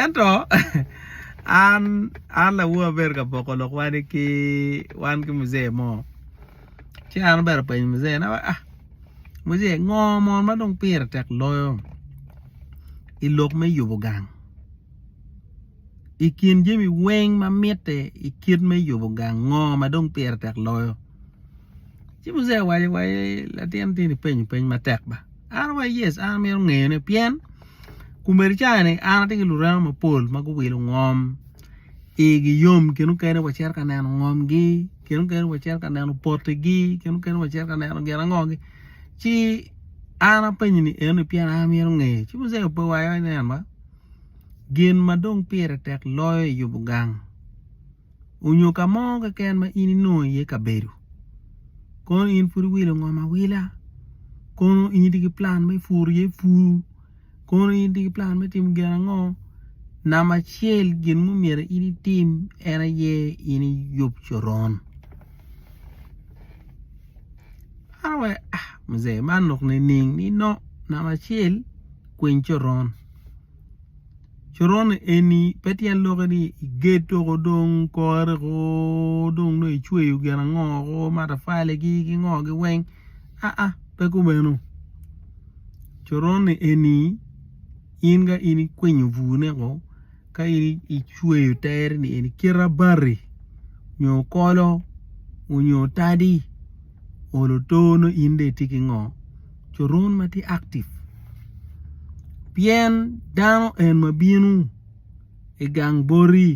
Ento an lawono abedo ka poko lok wani ki wan ki muzee mo ci an obedo openyo muzee ni muzee ngo mon ma dong pire tek loyo i lok me yubo gang i kin jami weng ma mitte i kit me yubo gang ngo ma dong pire tek loyo ci muzee owaco wa latin tini penyo peny matek ba. An wa yes an amito ngeyone pien komedi cani an atye ki lurema mapol ma guwilo ngom igi yom kine mukene wacito ka neno ngomgi kine mukene wacito ka neno potigi kine mukene wacito ka neno gin ango gi ci an apenyo ni enoni pien an amito ngeyo ci muzee ope wa iwaci ni en wa gin ma dong pire tek loyo i yubo gang onyo ka mo keken ma in inongo iye kabedo kono in pud iwilo ngom awila kono in itye ki plan me puru iye pur kono in itye ki plan me timo gin ango namba acel gin ma myero in itim en aye in iyub coron Muzee man lok nining nino namba acel kwiny coron. coron eni pe tyen lokke ni igedo ko dong kore ko dong nongo icweyo gin ango ko matafali ki ngo gi weng aa pe kumeno coron eni in ka in ikwinyo bur ne ko ka in icweyo tere ni eni kite abati nyo kolo nyo tadi olo oto nongo in dong itye ki ngo coron ma tye active pien dano en ma bino i gang boti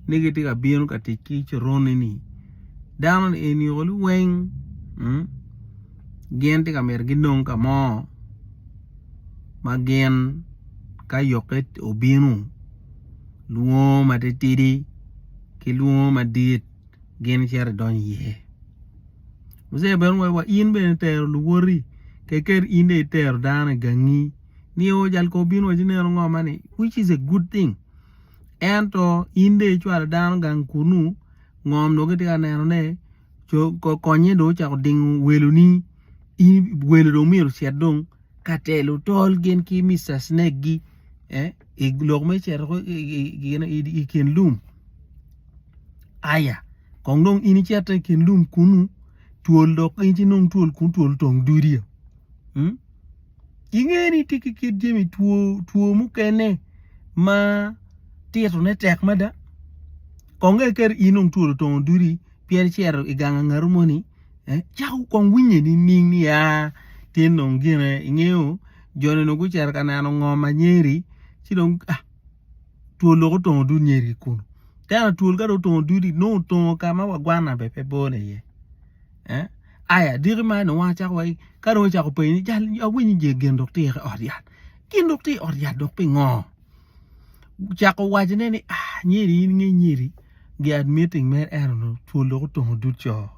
ni gitye ka bino ka tic ki coron eni dano ni eni olo weng gin tye ka myero ginong ka mo ma gin ka yokke obino lwongo matitidi ki lwongo madit. gin icito idony iye Mujek bene owaco wa in bene itero luwoti keken in dong itero dano i gangi nio jal kor obino owaci ineno ngo ma ni which is a good thing ento in dong icwalo dano gang kunu ngom dong kitye ka nenone co konye dong ocako dingo weloni in welo dong myero ocit dong ka telo tol gin ki Mister Snake gi i lok me cito ko i kin lum aya kong dong in icito i kin lum kunu twol dok in ci nong twol kunu twol otong dudi o inge ni tye ki kit jami two mukene ma tito ne tek mada kong dong kadi in dong twol otongo dudi pien icito i gang angatu moni cako kong winye ni ning ni aa tye nong gine ingeyo joni onongo gucito ka neno ngom anyeri ci dong twol dong otongo dud nyeri ki kunu ka en atwol ka dong otongo dudi nongo otongo ka ma wa gwana bene pe bone iye aya diki ma nongo wa cako waci ka dong ocako penyo ni jal awinyo je gin dok tye ki i ot yat gin dok tye i ot yat dok pingo ocako wacone ni anyira in nge nyiri gi admitting mere ento dong twol dok otongo dud co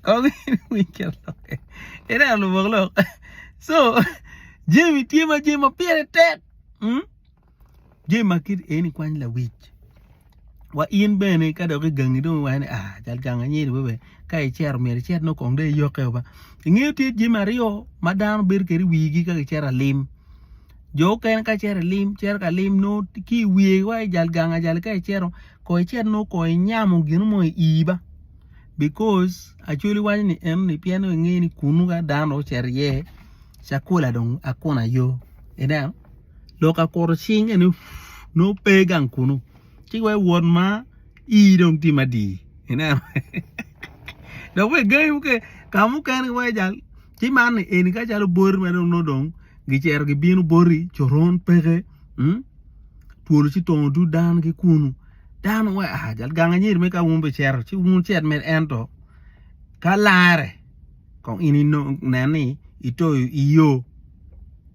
kong iwiny kit lokke ineno lubok lok so jami tye ma jami ma pire tek. Jami ma kit eni kwany lawic wa in bene ka dok i gangi dong iwaco ni aa cal gang anyedi webe ka icito myero icit nongo kong dong iyokke o ba ingeyo tye jami aryo ma dano bedo kwede i wigi ka gicito lalim jo mukene ka gicito lalim gicito ka lim nongo ki i wiye iwaco ni jal gang ajali ka icito kong icit nongo kong inyamo gin mo i ii ba bicos Acholi waco ni eno ni pien dong ingeyo ni kunu ka dano dong ocito iye cakula dong akuna yo ineno. lok akuto cing eni nongo pe gang kunu ci weko iwot ma ii dong tye madii ineno dok bene gangi mukene ka mukene iwaco ni jang ci man ni eni ka calo boti ma nongo dong gicito gibino boti coron peke twol ci tongo dul dano ki kunu dano waci aa jang anyier mere ka wun bicito ci wun wucit mere ento ka larre. kong in nen ni ito i yo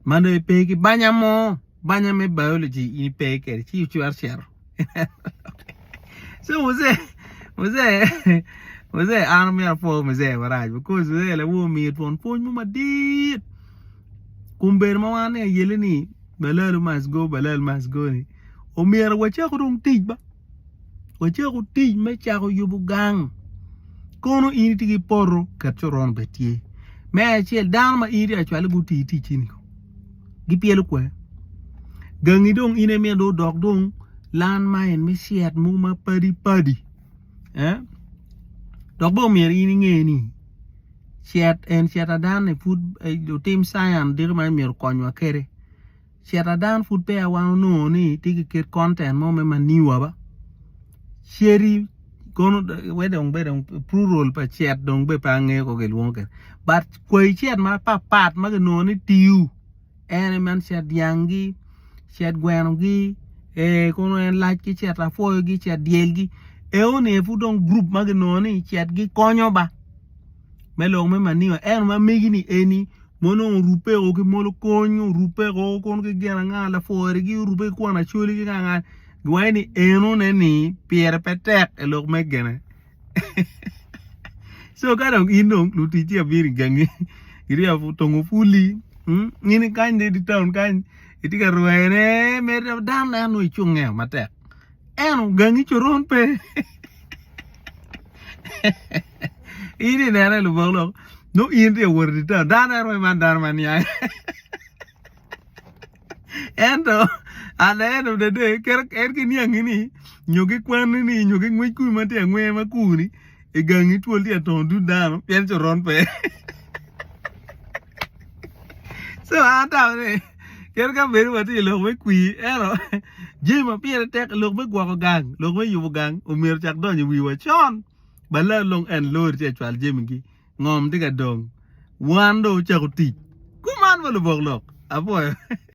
ma nongo ipe ki banya mo banya me biology in ipe kwede ci icwero cito so Jose Jose Jose an myero apwo Jose marac because Jose lawono omir twon pwony mo madit kun bedo ma wan oniang i yeleni balalo must go balalo must go ni omyero wacak dong tic ba. wacak otic me cako yubo gang kono in itye ki poto ket coron bene tye me acel dano ma in itye ka cwale gutii iticci ni gipyelo kwe gangi dong in aye myero dong odok dong lan main me cit mogo ma padi padi dok bene myero in inge ni cet en cet ada ni pud lutim cience diki ma myero okonywa kede Cit adan pud peya wan onongo ni tye ki ket content mo me maniwa ba cedi kono wai dong bene plural pa cit dong bene pe angeyo kong kilwongo kede but kwai cit ma pat pat ma kinongo ni tiu en aye man cit dyang gi cit gweno gi ee kono en lac ki cit lapwoyo gi cit dyel gi eo ni aye pud dong group ma kinongo ni cit gi konyo ba me lok me maniwa ento ma megi ni eni ma onongo orube o ki molokony orube o kono ki gin anga lapwori gi orube ki kwon acwali ki nga anga giwaco ni eno ne ni pire pe tek i lok me gine co ka dong in dong lutic ci abino i gangi irye otongo puli in i kany dong idi taun kany itye ka rwene meri dok dano neno nongo icung nge matek eno gangi coron pe in inene lubok lok no in ri wor di tar dano ero man dano man ya ento ale eno dede kere en ki niang ini nyo gi kwan ini nyo gi ngwec kuni man ti angwe ma kuni i gang i twol ti atongo dud dano pien co ron pe so an ta ni kere ka bedi wa ti ilok me kwi eno jami ma pire tek lok me gwoko gang lok me yubo gang omyero cak donyo i wiwa con baler long en lori tye ka cwalo jamigi ngom tye ka dong wan dong wucako tic kuman wa lubok lok apwoyo.